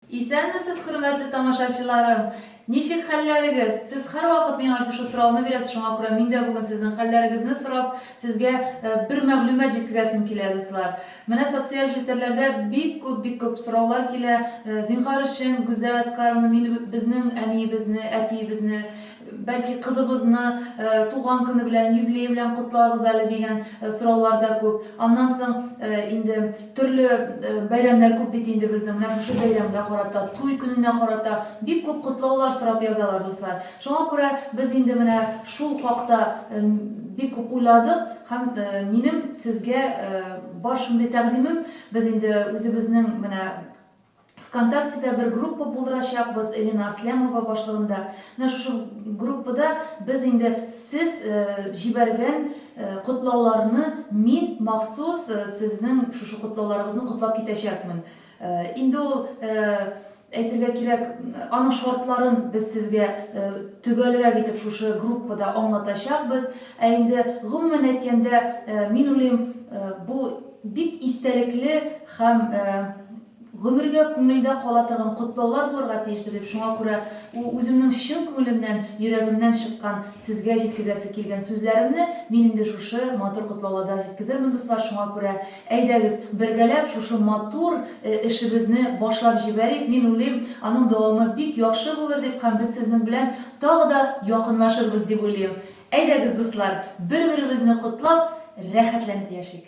Исәнмесез, хөрмәтле тамашачыларым! Ничек хәлләрегез? Сез һәрвакыт миңа шушы сорауны бирәсез, шуңа күрә мин дә бүген сезнең хәлләрегезне сорап, сезгә бер мәгълүмат җиткезәсем килә, дуслар. Менә социаль челтәрләрдә бик күп, бик күп сораулар килә, зинһар өчен, Гүзәл Әскаровна, мине, безнең әниебезне, әтиебезне Бәлки кызыбызны туган көне белән, юбилее белән котларбыз әле дигән сораулар да күп. Аннан соң инде төрле бәйрәмнәр күп бит инде безнең. Менә шушы бәйрәмгә карата, туй көненә карата бик күп котлаулар сорап язалар, дуслар. Шуңа күрә без инде менә шул хакта бик күп уйладык һәм минем сезгә бар шундый тәкъдимем, без инде үзебезнең менә Вконтактеда бер группа булдырачакбыз, Элина Аслямова башлыгында. Менә шушы группада без инде сез җибәргән котлауларны мин махсус сезнең шушы котлауларыгызны котлап китәчәкмен. Инде ул, әйтергә кирәк, аның шартларын без сезгә төгәлрәк итеп шушы группада аңлатачакбыз. Ә инде гомумән әйткәндә, мин уйлыйм, бу бик истәлекле Һәм гомергә күңелдә кала торган котлаулар булырга тиештер дип, шуңа күрә ул үземнең чын күңелемнән, йөрәгемнән чыккан, сезгә җиткезәсе килгән сүзләремне мин инде шушы матур котлауларда җиткезермен, дуслар, шуңа күрә әйдәгез, бергәләп шушы матур эшебезне башлап җибәрик, мин уйлыйм, аның дәвамы бик яхшы булыр дип һәм без сезнең белән тагы да якынлашырбыз дип уйлыйм. Әйдәгез, дуслар, бер-беребезне котлап, рәхәтләнеп яшик!